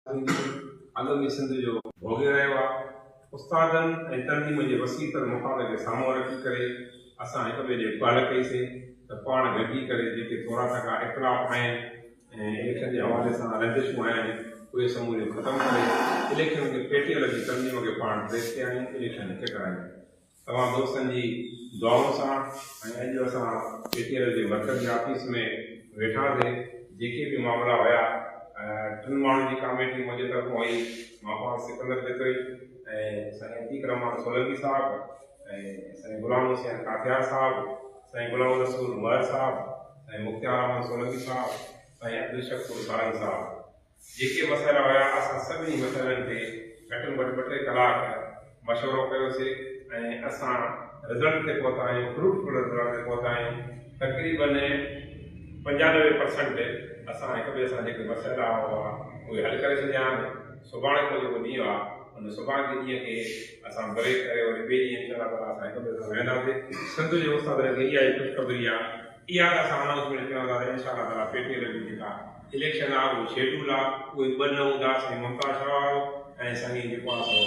سنڌي ادب ئي سنڌ جو ڀوڳي رهيو آهي. استادن ۽ تنظيم جي وسيع تر مفاد کي سامهون رکي ڪري اسان هڪ ٻئي ڏي پهل ڪئي سي ته پاڻ گڏجي ڪري جيڪي ٿورا ٿڪا اختلاف آهن ۽ اليڪشن جي حوالي سان رنجشون آهن اهي سموريون ختم ڪري اليڪشن کي پيٽيل جي تنظيم کي پاڻ پريس ڪيائون اليڪشن هڪ ڪرايون. توهان دوستن جي دعائن سان ۽ اڄ اسان پي ٽي ايل جي مرڪز جي آفيس ۾ ويٺاسين جيڪي به معاملا هيا ٽن ماڻهن جي ڪاميٽي منهنجي طرفان هئي مان پاڻ سڪندر جتوئي ۽ سائين عتيق رحمان سولنگي صاحب ۽ سائين غلام حسين ڪاٿيار صاحب سائين غلام الرسول مهر صاحب سائين مختيار احمد سولنگي صاحب سائين عبدالشڪور سارنگ صاحب جيڪي مسئلا هيا اسان سڀني مسئلن تي گهٽ ۾ گهٽ ٻه ٽي ڪلاڪ مشورو ڪيوسي ۽ اسان رزلٽ تي پهتا آهيون فروٽفل رزلٽ تي پهتا آهيون تقريبن پنجانوي پرسنٽ اسان هڪ ٻئي سان جيڪي مسئلا هئا اهي حل ڪري ڇڏيا آهن سڀاڻي جو جيڪو ڏينهن آهي ان سڀاڻي جي ڏينهن کي اسان بريڪ ڪري وري ٻئي ڏينهن انشاء الله اسان هڪ ٻئي سان ويهنداسي سنڌ جي استادن کي اها ئي خوشخبري آهي اها اسان انائونسمينٽ ڪيون ٿا انشاء الله تعالي پي ٽي ايل جي جيڪا اليڪشن آء اهو شيڊول آء اهي ٻه نه هوندا سائين ممتاز شاهه وارو ۽ سائين جيڪو آء سو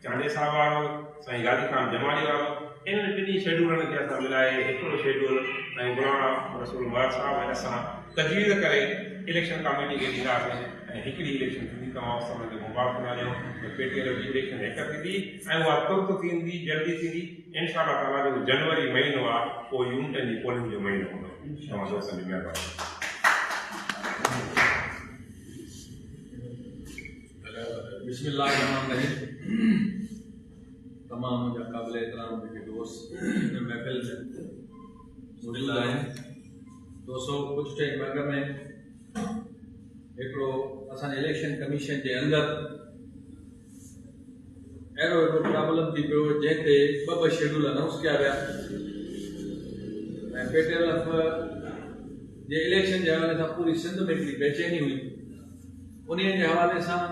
چانڊيي صاحب وارو سائين غازي خان جمالي وارو انهن ٽنهي شيڊولن کي اسان ملائي هڪڙو شيڊول سائين مولانا رسول مراد صاحب ۽ اسان تجويز ڪري اليڪشن ڪاميٽي کي ڏينداسين ۽ هڪڙي اليڪشن ٿيندي توهان سڀن کي مبارڪون آهيون ته پي ٽي ايل جي اليڪشن هڪ ٿيندي ۽ اها ترت ٿيندي جلدي ٿيندي انشاء الله تعالٰي جيڪو جنوري مهينو آهي اهو يونٽن جي پولنگ جو مهينو هوندو توهان دوستن جي مهرباني بسم الله الرحمن الرحيم تمام منهنجا قابل احترام جيڪي دوست هن محفل ۾ موجود آهن دوستو ڪجهه ٽائم اڳ ۾ هڪڙو اسان الیڪشن ڪميشن جي اندر اهڙو هڪڙو پرابلم ٿي پيو جنهن تي ٻه ٻه شيڊول انائونس ڪيا ويا ۽ پي ٽي ايل ايف جي اليڪشن جي حوالي سان پوري سنڌ ۾ هڪڙي بيچيني هئي ان جي حوالي سان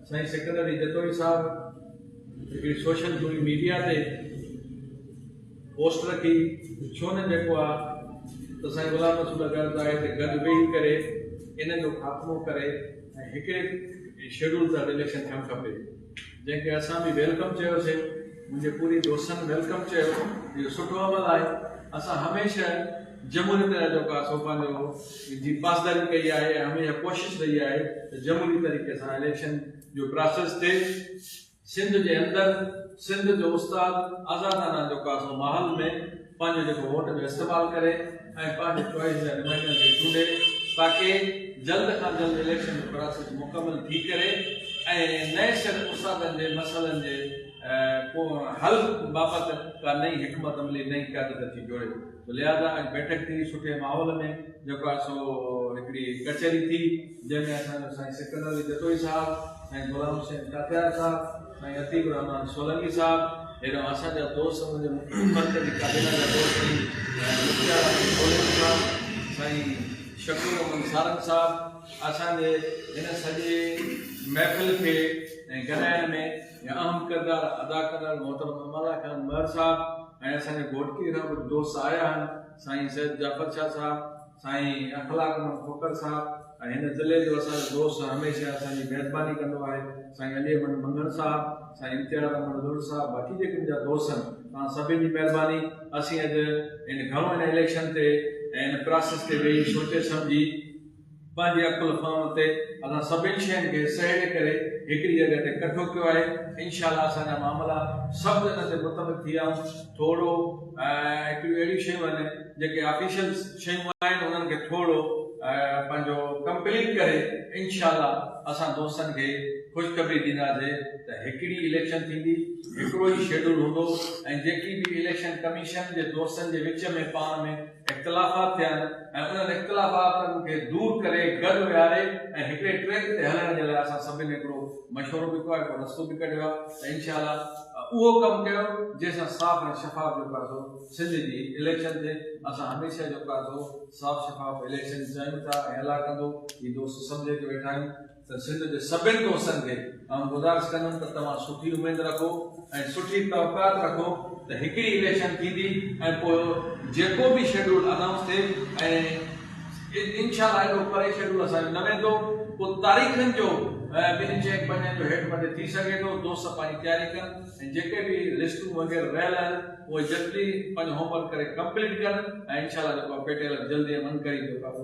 سائين سڪندر جتوئي صاحب هڪڙي سوشل ميڊيا تي پوسٽ رکي ڇو نه جيڪو آ تو سائين غلام رسول گرد آئي ته گد ويهي ڪري ان جو خاتمو ڪري ۽ هڪڙي شيڊول تحت اليڪشن ٿيڻ کپي جنهن کي اسان به ويلڪم چيو سي منهنجي پوري دوستن ويلڪم چيو اهو سٺو عمل آهي اسان هميشه جمهوري طريقو ڪار سو پنهنجو جي پاسداري ڪئي آهي ۽ هميشه ڪوشش رهي آهي ته جمهوري طريقي سان اليڪشن جو پراسيس ٿئي سنڌ جي اندر سنڌ جو استاد آزادانه چوڪاسو ماحول ۾ پنهنجو جيڪو ووٽ جو استعمال ڪري ۽ پنهنجي چوائس جا نمائندن کي چونڊي تاڪي جلد کان جلد اليڪشن جو پراسيس مڪمل ٿي ڪري ۽ نئين سر استادن جي مسئلن جي حل بابت ڪا نئين حڪمت عملي نئين قيادت کي جوڙي. لهٰذا اڄ بيٺڪ ٿي سٺي ماحول ۾ جيڪو آهي سو هڪڙي ڪچهري ٿي جنهن ۾ اسان جو سائين سڪندر علي جتوئي صاحب، سائين غلام حسين ڪاڪيار صاحب، سائين عتيق الرحمان سولنگي صاحب هيڏانهن اسان جا دوست سمجهه مرڪزي ڪابينا جا دوست ۽ مختيار احمد سولنگي صاحب، سائين شڪور احمد سارنگ صاحب اسان جي هن سڄي محفل کي ۽ گڏائڻ ۾ ۾ اهم ڪردار ادا ڪندڙ محترم امالا خان مهر صاحب ۽ اسان جي گهوٽڪي کان ڪجهه دوست آيا آهن سائين سيد جعفر شاهه صاحب، سائين اخلاق محمد کوکر صاحب ۽ هن ضلعي جو اسان جو دوست هميشه اسان جي ميزباني ڪندو آهي سائين علي احمد منگڻ صاحب، سائين امتياز احمد لوڏ صاحب باقي جيڪي منهنجا دوست آهن توهان سڀني جي مهرباني اسين اڄ ان گهڻو ان اليڪشن تي ۽ ان پراسيس تي ويهي سوچي سمجهي پنهنجي عقل فهم تي اسان سڀني شين کي سهيڙي ڪري هڪڙي جڳهه تي ڪٺو ڪيو آهي انشاء الله اسان جا معاملا سڀ ان تي متفق ٿي آهون ٿورڙو هڪڙيون اهڙيون شيون آهن جيڪي آفيشل شيون آهن انهن کي ٿورڙو پنهنجو ڪمپليٽ ڪري انشاء الله اسان دوستن کي خوشخبري ڏينداسي ته هڪڙي اليڪشن ٿيندي هڪڙو ئي شيڊول هوندو ۽ جيڪي به اليڪشن ڪميشن جي دوستن جي وچ ۾ پاڻ ۾ اختلافات ٿين ۽ انهن اختلافاتن کي دور ڪري گڏ ويهاري ۽ هڪڙي ٽريڪ تي هلڻ جي لاء اسان سڀني هڪڙو مشورو به ڪيو آهي هڪڙو رستو به ڪڍيو آهي ته انشاء الله اهو ڪم ڪيو جنهن سان صاف ۽ شفاف جو ڪاسو سنڌ جي اليڪشن ٿئي اسان هميشه جو ڪاسو صاف شفاف اليڪشن چاهيون ٿا ۽ الله ڪندو هي دوست سمجهي ڪي ويٺا آهيون ته سنڌ جي سڀن دوستن کي آئون گذارش ڪندم ته توهان سٺي اميد رکو ۽ سٺي توقعات رکو ته هڪڙي اليڪشن ٿيندي ۽ پوء جيڪو به شيڊول انائونس ٿئي ۽ انشاء الله ايڏو پري شيڊول اسان جو نه ويندو پوء تاريخن جو ٻنهن چئن پنجن جو هيٺ مٿي ٿي سگهي ٿو دوست پنهنجي تياري ڪن ۽ جيڪي به لسٽون وغيره رهيل آهن اهي جلدي پنهنجو هوم ورڪ ڪري ڪمپليٽ ڪن ۽ انشاء الله جيڪو آهي پيٽيلر جلدي ۽ عنقريب جيڪو آهي